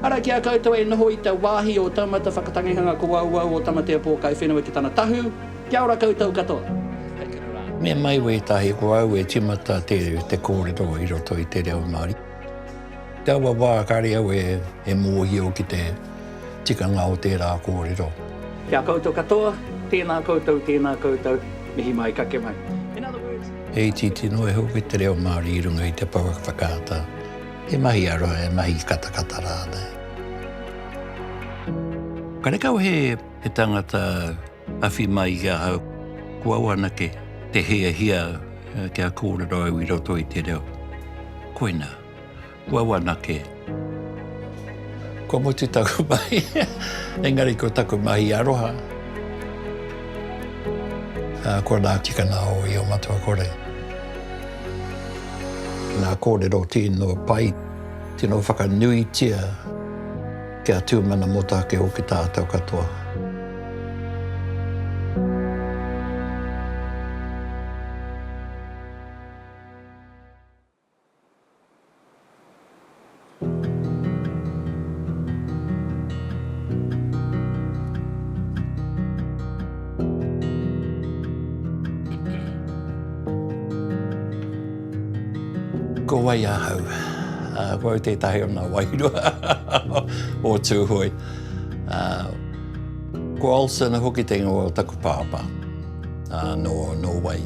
Ara ki a koutou e noho i te wāhi o Taumata Whakatangihanga ko Wauwau o Tamatea Pōkai Whenua ki tana tahu, kia ora koutou katoa. Me mai wētahi ko au e timata te kōrero i roto i te reo Māori. Te awa wā kare au e mōhio ki te tikanga o tērā kōrero. Ki a koutou katoa, tēnā koutou, tēnā koutou, mihi mai, kake mai. He itiiti noa iho ki te reo Māori i runga i te pouaka whakaata. He mahi aroha, he mahi katakata rānei. Karekau he tangata awhi mai i ahau, ko au anake te hiahia kia kōrero au i roto i te reo. Koinā, ko au anake. Kua mutu taku mahi, engari ko taku mahi aroha. Ko nā tikanga o Io Matua Kore. Ngā kōrero tino pai, tino whakanuitia kia tūmana mōtāke hoki tātou katoa. Ko wai ahau? Ko au tētahi o ngā wairua o Tūhoe. Ko Olsen hoki te ingoa o taku pāpā, nō Nōwei.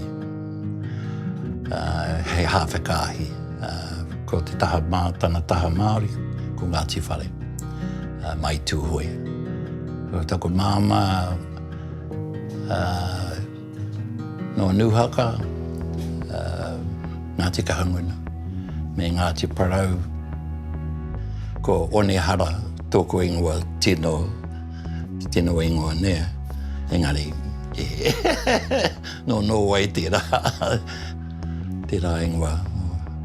He hāwhe kāhi. Ko te taha mātanga, taha Māori, ko Ngāti Whare, mai Tūhoe. Ko taku māmā, nō Nūhaka, Ngāti Kahungunu, me Ngāti Parau. Ko Onehara tōku ingoa tino, tino ingoa nei, engari, nō Nōwei tērā. tērā ingoa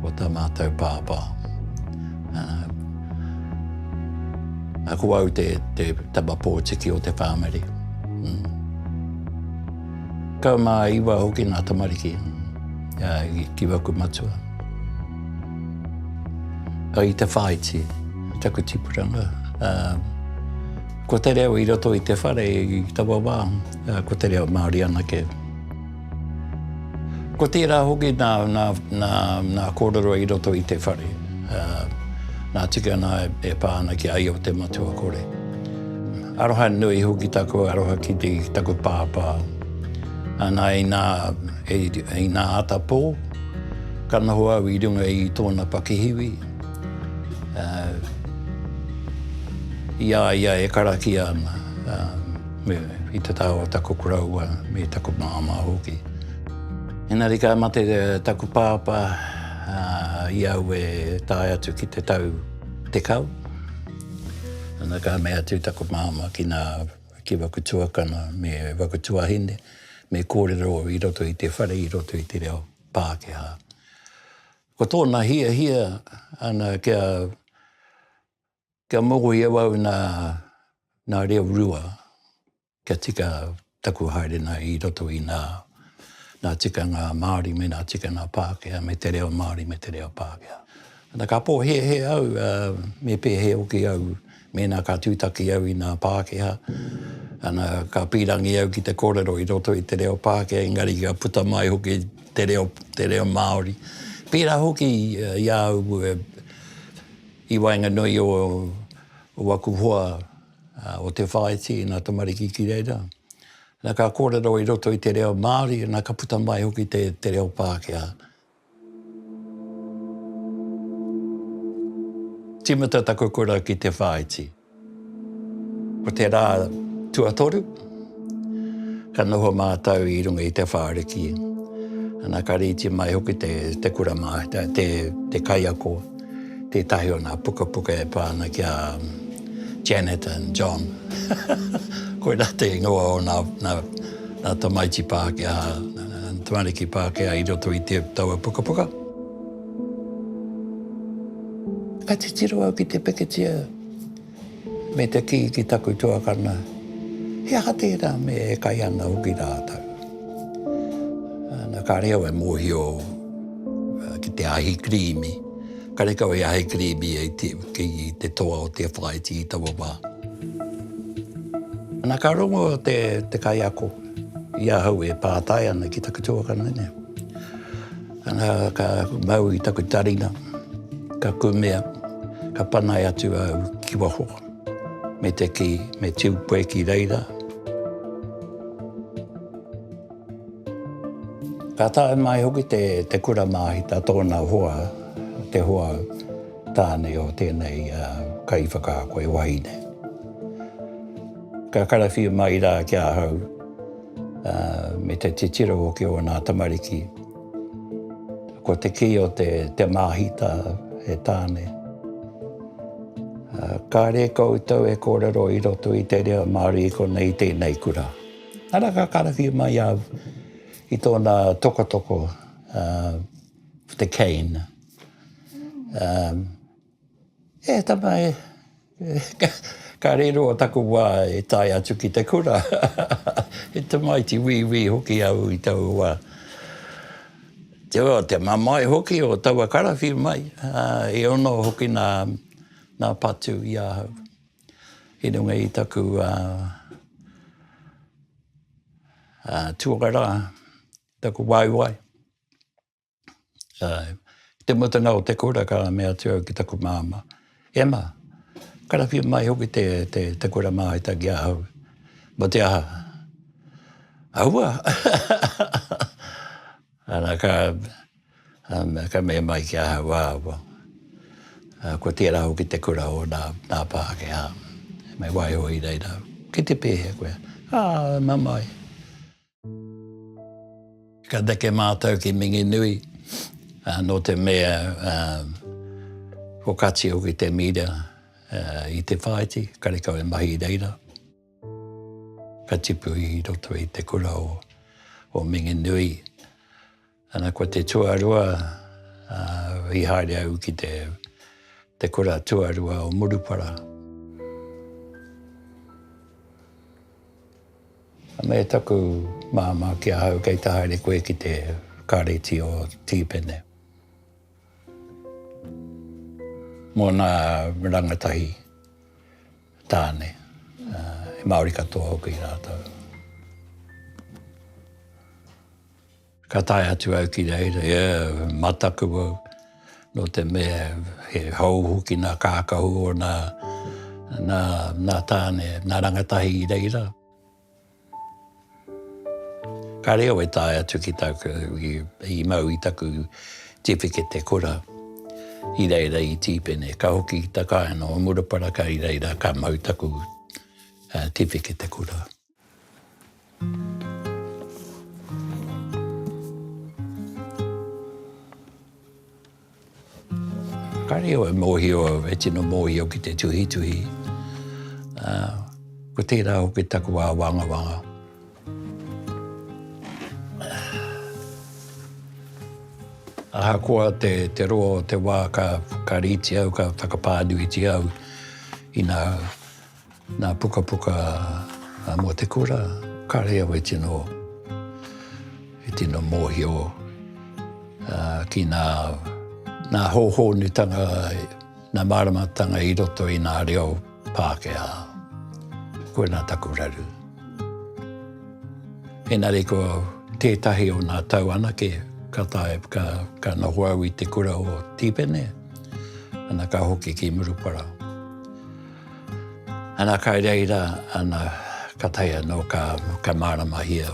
o tā mātou pāpā. Ā, ko au te tama pōtiki o te whāmiri. Kau mā iwa hoki ngā tamariki ki waku matua. Ka i te whāiti, taku tipuranga. Ko te reo i roto i te whare i taua wā, ko te reo Māori anake. Ko tērā hoki nā, nā, nā, nā kōrero i roto i te whare, ā, nā tika nā e pā ana ki a Io te Matua Kore. Aroha nui hoki taku aroha ki te, ki taku pāpā. Nā, inā, e, inā ata pō, ka noho au i runga i tōna pakihiwi, ā, i a ia e karakia ana, ā. Me i te taha o taku koroua, me taku māmā hoki. Engari ka mate taku pāpā i au e tae atu ki te tau tekau. Ana ka mea atu taku māmā ki nā, ki waku tuakana me waku tuahine, me kōrero i roto i te whare, i roto i te reo Pākehā. Ko tōna hiahia ana kia Kia mōhio i awau nā, nā reo rua kia tika taku haerenga i roto i nā, nā tikanga Māori me nā tikanga Pākehā, me te reo Māori me te reo Pākehā. Nā, ka pōhēhē au, ā, me pēhē hoki au mēnā ka tūtaki au i nā Pākehā, ā, nā, ka pīrangi au ki te kōrero i roto i te reo Pākehā, engari ka puta mai hoki te reo, te reo Māori. Pērā hoki i a au e, I waenganui o waku hoa o Te Whāiti nā tamariki ki reira, nā ka kōrero i roto i te reo Māori, nā ka puta mai hoki te reo Pākehā. Tīmata taku kura ki Te Whāiti. Ko te rā tuatoru, ka noho mātou i runga i te whāriki. Ana, ka rīti mai hoki te, te kura mā, te, te, te kaiako, tētahi o nā pukapuka e pā ana ki a Janet and John. Koirā te ingoa o nā, nā, nā tamaiti Pākehā, tamariki Pākehā i roto i te, taua pukapuka. Ka titiro au ki te pikitia me te kī ki taku tuakana, he aha tērā me e kai ana hoki rātou. Nā, kāre au e mōhio ki te ahi kirīmi, karekau he ahi kirīmi e te, ki te toa o te whāiti i taua wā. Nā, ka rongo te, te kaiako i ahau e pātai ana ki taku tuakana nei. Ana ka mau i taku taringa, ka kumea, ka panaia atu au ki waho, me te kī, me tiu koe ki reira. Ka tae mai hoki te kura māhita tōna hoa, te hoa tāne o tēnei kaiwhakaako, e wahine. Ka karawhiu mai rā ki ahau. me te titiro hoki o nā tamariki. Ko te kī o te te māhita he tāne. Kāre koutou e kōrero i roto i te reo Māori i konei tēnei kura. Ara ka karakia mai au i tōna tokotoko, the cane. E tama e, ka riro taku wā e tae atu ki te kura, he tamaiti wīwī hoki au i taua wā. Te mamae hoki o taua karawhiu mai, e ono hoki nā patu i ahau i runga i taku tuakara, taku waewae. Uh, te mutunga o te kura ka me atu au ki taku māma, Emma, karawhia mai hoki te, te, te kura māhita ki ahau. Mo te aha? Aua! Ana ka, um, ka me mai ki ahau āwa. Uh, ko tērā hoki te kura o nā, nā Pākehā. Me waiho i reira. Ki te pēhea koe? Ah, mamai. Ka neke mātou ki Minginui, nō te mea ko Kati hoki te mīra i te whāiti, karekau e mahi i reira. Ka tipu i roto i te kura o Minginui. Ana ko te tuarua, uh, i haere au ki te, te kura tuarua o Murupara. Me taku māmā ki ahau kei te haere koe ki te kāreti o Tīpene. Mōna rangatahi tāne, uh, Māori katoa hoki rātou. Ka tae atu au ki reira, e mataku au, nō te mea he hou hoki nā kākahu o nā, nā, nā Tāne, nā Rangatahi i reira. Ka reo e tae atu ki tāku, i, i mau i taku tiwhikete kura i reira i Tīpene. Ka hoki ki te kāinga o Murupara, kei reira ka mau taku tiwhikete kura. Ka reo e mōhio au, e tino mōhio ki te tuhituhi. Ko tērā hoki taku āwangawanga. Ahakoa te roa o te wā ka rītia au, ka whakapānuitia au, inā. Nā pukapuka mō te kura, kāre au e tino, e tino mōhio ki nā, nā hōhōnutanga, nā māramatanga i roto i nā reo Pākehā. Koinā taku raru. Engari ko tētahi o nā tau anake ka tae, ka, ka noho au i te kura o Tīpene, ana ka hoki ki Murupara. Ana kai reira ana ka tae ano ka maramahia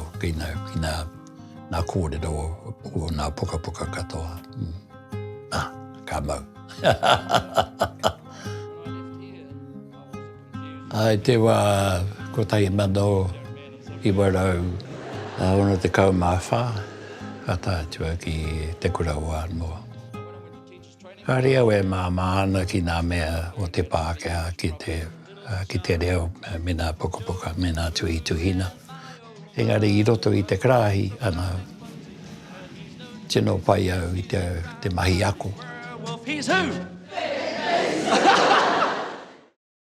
na korero o na pukapuka katoa a ka mau. I te wa 1964 ka tae atu au ki te kura o Anoa. Kāre au e māmā ana ki ngā mea o te Pākehā ki te, ki te reo me ngā pukapuka me ngā tuhituhina. Engari i roto i te karāhi, ana, tino pai au i te, te mahi ako.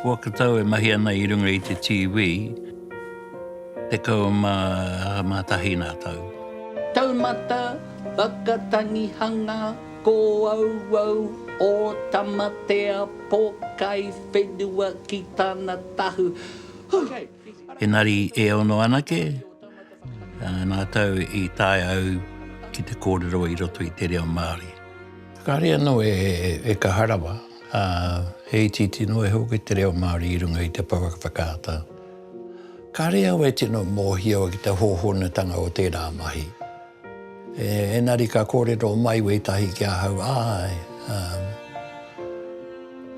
Whakatau e mahi ana i runga i te TV, 11 ngā tau. Taumata Whakatangihanga Ko Auau o Tamatea Pokai Whenua ki tana tahu. Huh! Engari e ono anake ngā tau i taea au ki te kōrero i roto i te reo Māori. Kāre anō e kaha rawa, ā, he itiiti noa iho hoki te reo Māori i runga i te pouaka whakaata. Kāre au e tino mōhio ki te hōhonutanga o tērā mahi. Engari ka kōrero mai wētahi ki ahau, āe,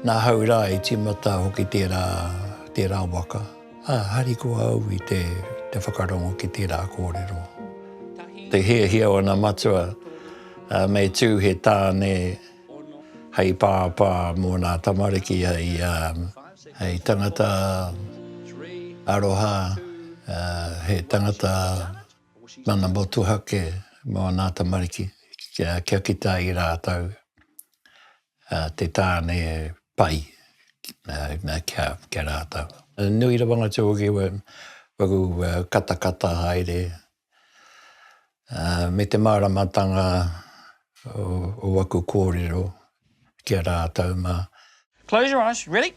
nā hau rā i tīmata hoki tērā waka, ā, harikoa au i te whakarongo ki tērā kōrero. Te hiahia o ana matua me tū he tāne hei pāpā mō nā tamariki hei tangata aroha, he tangata Nana Motuhake mo ana tamariki kia kita i ratou te tane pai kia ratou. Nui rawa nga tiogi waku katakata haere me te maramatanga o waku korero. ki a rātou mā. Close your eyes, ready?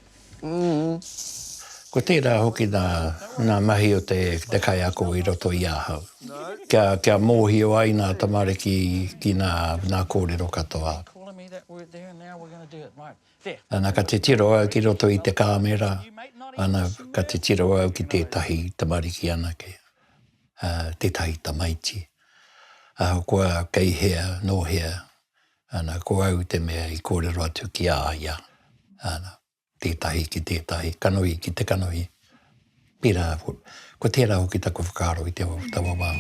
Ko tērā hoki nā, nā mahi o te, te kaiako i roto i ahau. Kia, kia mōhio ai nā tamariki ki nā, nā kōrero katoa. Ana ka titiro au ki roto i te kāmera, ana ka titiro au ki tētahi tamariki anake, tētahi tamaiti. Ahakoa kei hea, nō hea, Ana, ko au te mea i kōrero atu ki a ia, ana, tētahi ki tētahi, kanohi ki te kanohi, pērā, ko tērā hoki taku whakaaro i te awa whakawawao.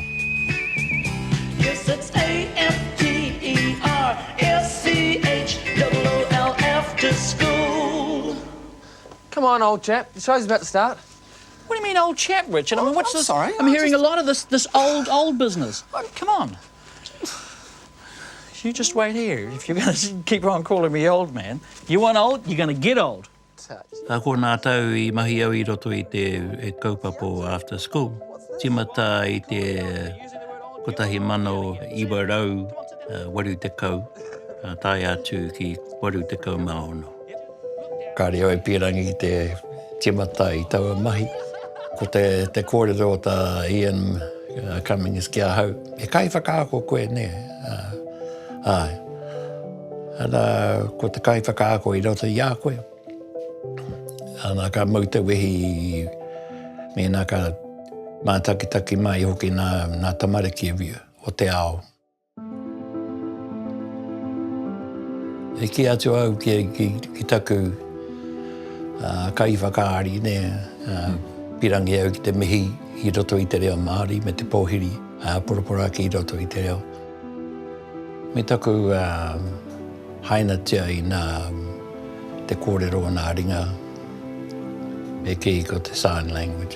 You just wait here, if you're going to keep on calling me old man. You want old, you're going to get old. Ka kona tau i mahi au i roto i te kaupapa o After School. Timata i te 1980, tae atu ki 86. Ka reo e Pirangi ki te timata i taua mahi. Ko te te kōrero o tā Ian Cummings ki ahau, he kaiwhakaako koe nē? Āe. Ana, ko te kaiwhakaako i roto i a koe. Ana, ka mau te wehi i mēnā ka mātakitaki mai hoki nā tamariki o te ao. E kī atu au ki taku kaiwhakaari, pīrangi au ki te mihi i roto i te reo Māori me te pōhiri poroporoaki i roto i te reo. Me taku hainatia i nā te kōrero o nā ringa e kī ko te sign language.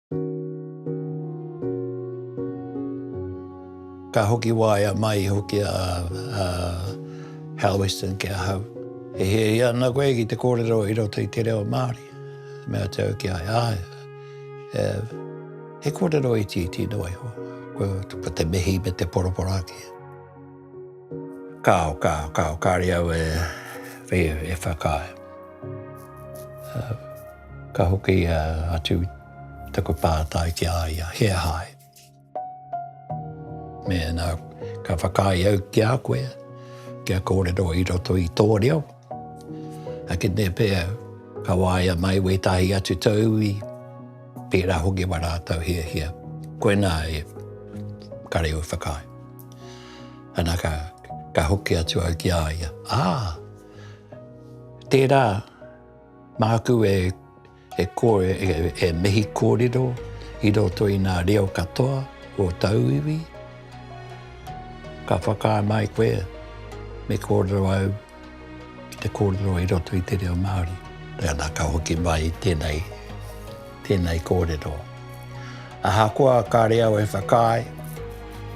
Ka hoki waea mai hoki a Hal Weston ki ahau. E hiahia ana koe ki te kōrero i roto i te reo Māori? Me atu au ki a ia, āe, he kōrero itiiti noa iho, ko te mihi me te poroporo ake. Kāo, kāo, kāo, kāre au e whakaae. Ka hoki atu taku pātai ki a ia, He aha ai? Mēnā ka whakaae au ki a koe, kia kōrero i roto i tō reo, ake nei pea ka waia mai wētahi atu tauwi, pērā hoki mā rātou hiahia. Koinā e kare au whakaae. Ana ka hoki atu au ki a ia, Ā, tērā. Māku e kore e mihi kōrero i roto i ngā reo katoa o tauiwi. Ka whakaae mai koe me kōrero au ki te kōrero i roto i te reo Māori. Nana ka hoki mai tēnei, tēnei kōrero. Ahakoa kāre au e whakaae,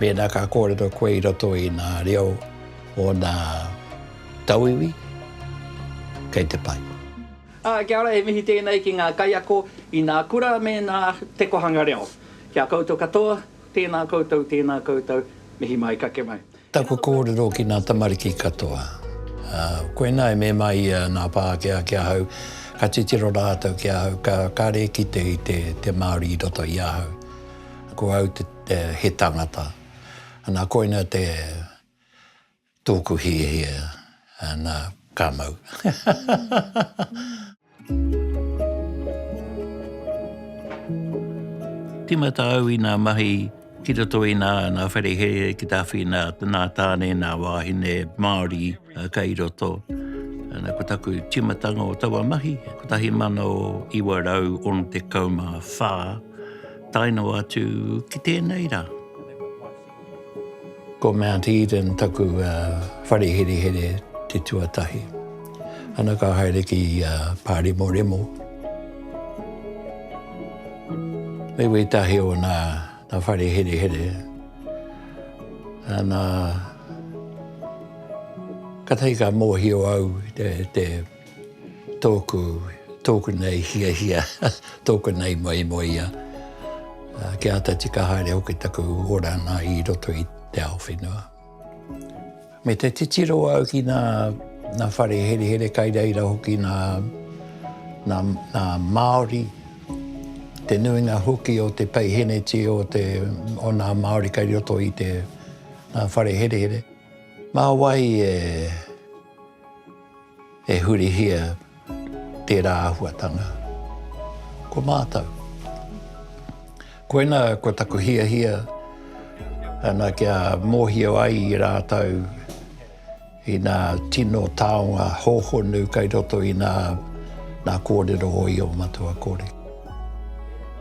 mēnā ka kōrero koe i roto i ngā reo o ngā. Tauiwi, kei te pai. Ā, kia ora, he mihi tēnei ki ngā kaiako i nā kura me nā Te Kohanga Reo. Ki a koutou katoa, tēnā koutou, tēnā koutou, mihi mai, kake mai. Taku kōrero ki nā tamariki katoa. Koinā e mema ia nā Pākehā ki ahau, ka titiro rātou ki ahau, ka kare kite i te te Māori i roto i ahau. Ko au te he tangata. Ana, koina te Tōku hiahia nā, ka mau. Tīmata au i nā mahi ki roto i nā whare here ki Tāwhiana, nā Tāne, nā wāhine Māori kei roto. Ko taku tīmatanga o taua mahi, 1964 tae noa atu ki tēnei rā. Ko Mount Eden taku whare herehere te tuatahi. Ana ka haere ki Pāremoremo. Hei wētahi o nā whare herehere, nā, katahi ka mōhio au te, Tōku, tōku nei hiahia, tōku nei moemoeā, kia āta tika haere hoki taku oranga i roto i te ao whenua. Me te titiro au ki nā, nā whare herehere kai reira hoki nā, nā, nā Māori, te nuinga hoki o te peiheneti o te, o nā Māori kai roto i te, nā whare herehere. Mā wai e, E hurihia tērā āhuatanga. Ko mātou. Koinā ko taku hiahia ana kia mōhio ai i rātou i nā tino taonga hōhonu kei roto i nā nā kōrero o io matua kore.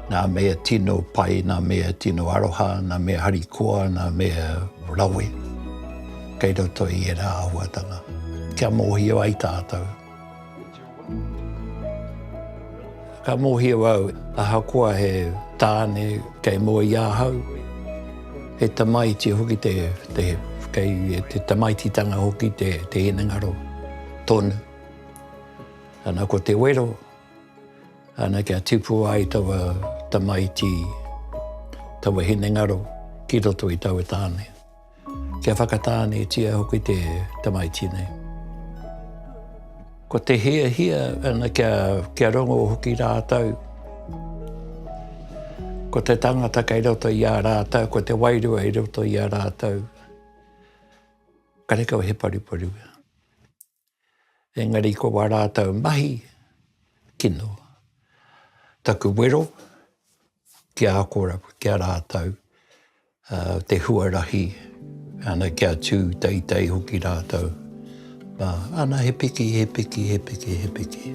Nā mea tino pai, nā mea tino aroha, nā mea harikoa, nā mea rawe. kei roto i ērā āhuatanga, kia mōhio ai tātou. Ka mōhio au, ahakoa he tāne kei mua i ahau, he tamaiti hoki te, te, kei te tamaititanga hoki te, te hinengaro tonu. Ana ko te wero, ana kia tipu ai taua tamaiti, taua hinengaro ki roto i taua tāne. Kia whakatānetia hoki te tamaiti nei. Ko te hiahia ana kia, kia rongo hoki rātou. Ko te tangata kei roto i a rātou, ko te wairua i roto i a rātou. Karekau he paruparu. Engari ko wā rātau mahi kino. Taku wero ki a kora, ki a rātau, te huarahi, ana kia tū teitei hoki rātau. Ana he piki, he piki, he piki, he piki.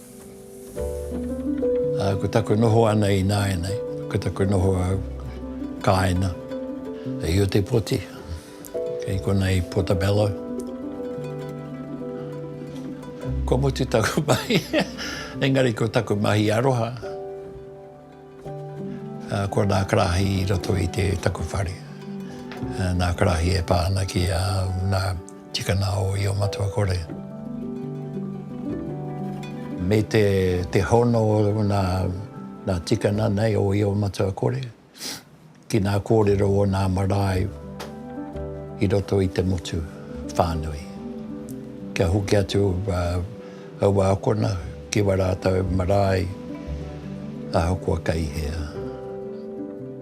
Ko taku noho ana ināianei, ko taku noho au kāina i Otepoti, kei konei Portobello. Kua mutu taku mahi, engari ko taku mahi aroha. Ko nā karahi i roto i te taku whare. Nā karahi e pā ana ki a nā tikana o Iomatuakore. Me te hono o nā tikana nei o Iomatuakore. Ki ngā kōrero o ngā marae i roto i te motu whānui. Kia hoki atu aua akona ki wā rātou marae ahakoa kei hea,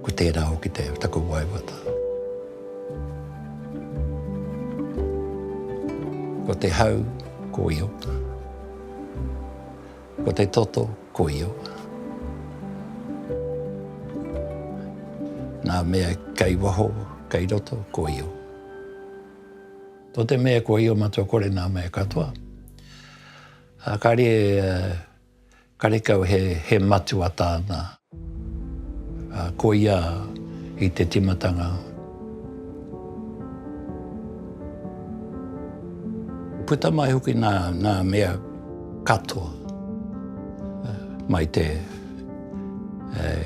ko tērā hoki taku waiwata. Ko te hau, ko ia. Ko te toto ko Iowa. Nga mea kei waho, kei roto, ko Iowa. To te mea ko Iowa matua kore nga mea katoa. Kare karekau he matua tana. Ā, ko ia i te timatanga. Puta mai hoki nā, nā mea katoa mai te,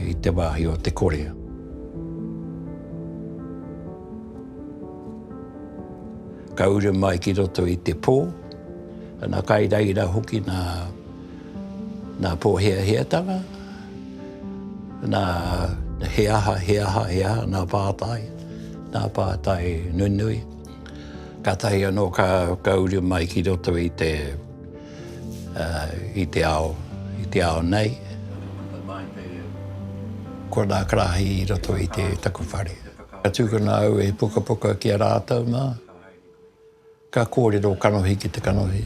i te wāhi o te kore. Ka uru mai ki roto i te pō, ana, kai reira hoki nā. nā pōheaheatanga, nā he aha, he aha, he aha, nā pātai, nā pātai nunui. Kātahi anō ka uru mai ki roto i te ao, i te ao nei. Ko nā karāhi i roto i taku whare. Ka tūkino au e pukapuka ki a rātou mā. Ka kōrero kanohi ki te kanohi.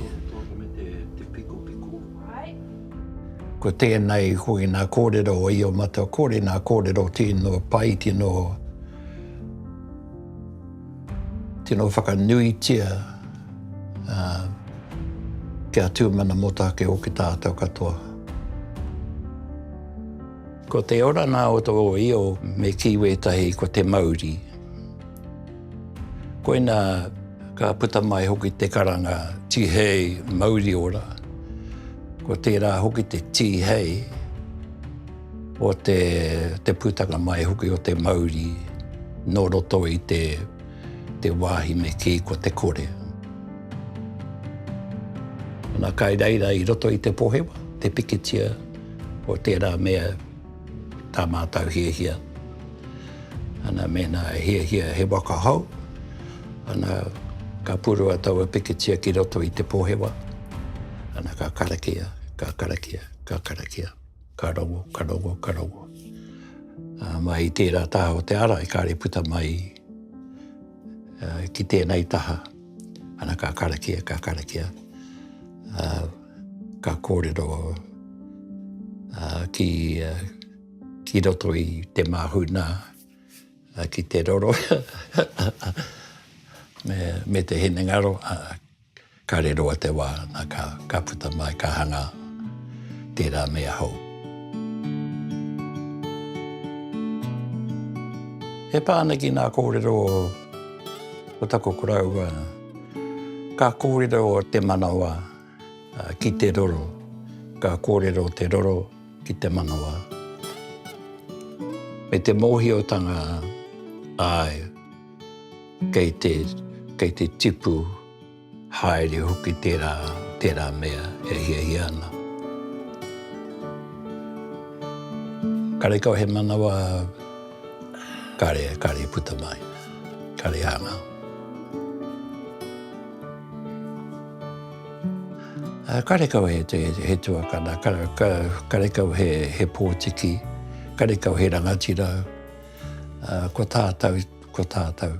Ko tēnei, ko ina kōrero o Io Matua Kore, nā kōrero tino pai, tino, tino whakanuitia kia tūmana motake o ki tātou katoa. Ko te orana o tō Io me kī wētahi ko te mauri. Koina ka puta mai hoki te karanga Tihei mauri ora. Ko tērā hoki te tihei o te, te putanga mai hoki o te mauri nō roto i te, te wāhi me kī ko te kore. Nā kai reira i roto i te pohewa, te pikitia o tērā mea Tā mātou hiahia, ana, mēnā e hiahia he waka hou, ana, ka purua taua pikitia ki roto i te pohewa, ana, ka karakia, ka karakia, ka karakia, ka rongo, ka rongo, ka rongo. Ā, mai i tērā taha o te ārai, kāre puta mai ki tēnei taha. Ana ka karakia, ka karakia, ā, ka kōrero ā, ki, ki roto i te māhunā ki te roro me, me te hinengaro, ā, ka riro a te wā, nā, ka, ka puta mai, ka hangā tērā mea hou. E pā ana ki ngā kōrero o. Ko taku koroua, ka kōrero te manawa ki te roro, ka kōrero te roro ki te manawa. Me te mōhiotanga, āe, kei te, kei te tipu. Haere hoki tērā, tērā mea e hiahia ana. Karekau he manawa kare, kare puta mai, kare hangau. Karekau he, he tuakana, karekau he, he pōtiki, karekau he rangatira, ko tātou, ko tātou.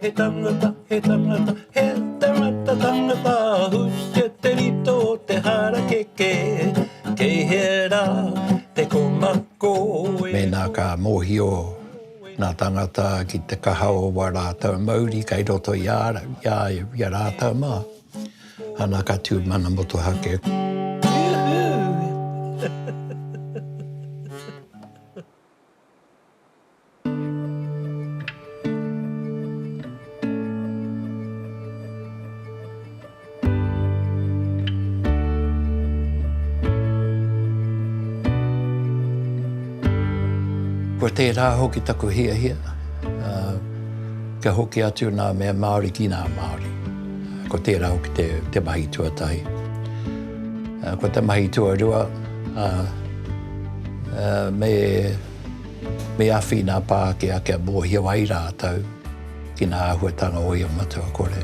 He tangata, he tangata, he tangata, tangata, husia te rito o te harakeke, kei hea rā te komako e. Mēnā ka mōhio ngā tāngata ki te kaha o wā rātau mauri kei roto i a rātau mā, ana ka tū mana motuhake. Kua tērā hoki taku hiahia, kia hoki atu nā mea Māori ki nā Māori. Ko tērā hoki te mahi tuatahi. Ko te mahi tuarua, Me, me awhi nā Pākehā kia mōhio ai rātou ki nā āhuatanga o ia matua kore.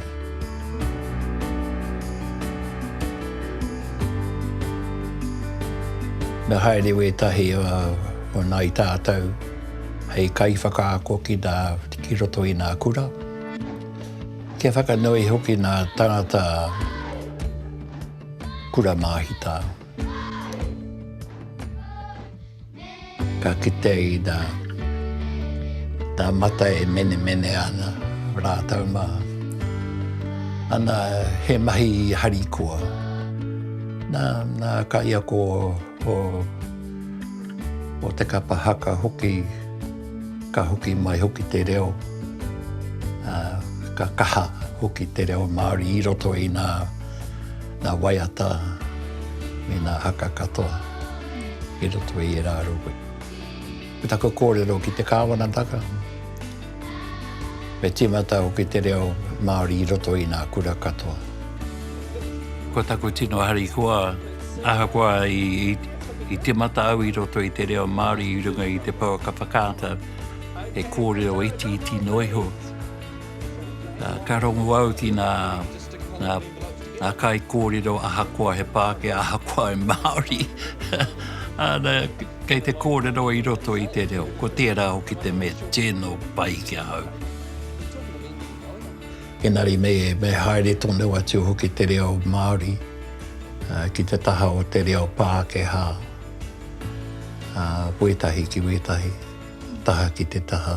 Me haere wētahi o nai tātou hei kaiwhakaako ki nā, ki roto i nā kura, kia whakanui hoki nā tangata kura māhita. Ka kitea i nā, tā Mata e menemene ana rātou mā. Ana, he mahi harikoa. Nā, nā kaiako o, o te kapa haka hoki, ka hoki mai hoki te reo, ā, ka kaha hoki te reo Māori i roto i nā. Nā waiata me nā haka katoa i roto i ērā rohe. Ko taku kōrero ki te Kāwanataka, me tīmata hoki te reo Māori i roto i nā kura katoa. Ko taku tino harikoa, ahakoa i tīmata au i roto i te reo Māori i runga i te pouaka whakaata, he kōrero itiiti noa iho. Ka rongu au ki nā. Nā, nā kaikōrero ahakoa he Pākehā, ahakoa he Māori, āna, kei te kōrero i roto i te reo, ko tērā hoki te mea tino pai ki ahau. Engari nei e me haere tonu atu hoki te reo Māori ki te taha o te reo Pākehā, wētahi ki wētahi, taha ki te taha.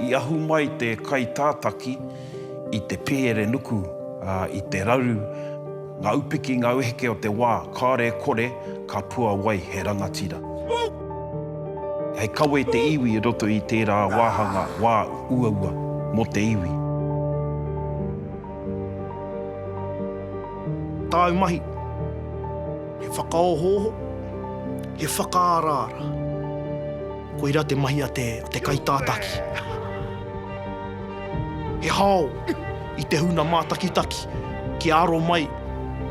I ahu mai te kaitātaki i te pēere nuku, ā, i te raru ngā upiki, ngā weheke o te wā, kāore e kore, ka puawai he rangatira. Hei kawe te iwi i roto i tērā wāhanga wā uaua mō te iwi. Tāu mahi, he whakaohooho, he whakaaraara. Koira te mahi a te kaitātaki. He hao i te huna mātakitaki kia aro mai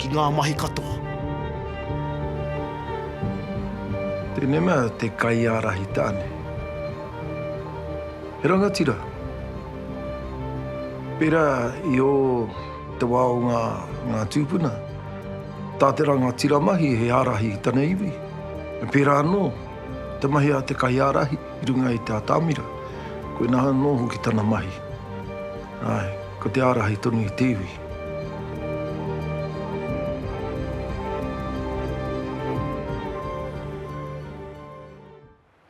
ki ngā mahi katoa. Tēnei mea te kaiārahi tāne. He rangatira. Pērā i ō te wā o ngā tūpuna, tā te rangatira mahi he ārahi i tana iwi. Pērā anō te mahi a te kaiārahi i runga i te atamira, koinā anō hoki tana mahi, āe, ko te ārahi tonu i te iwi.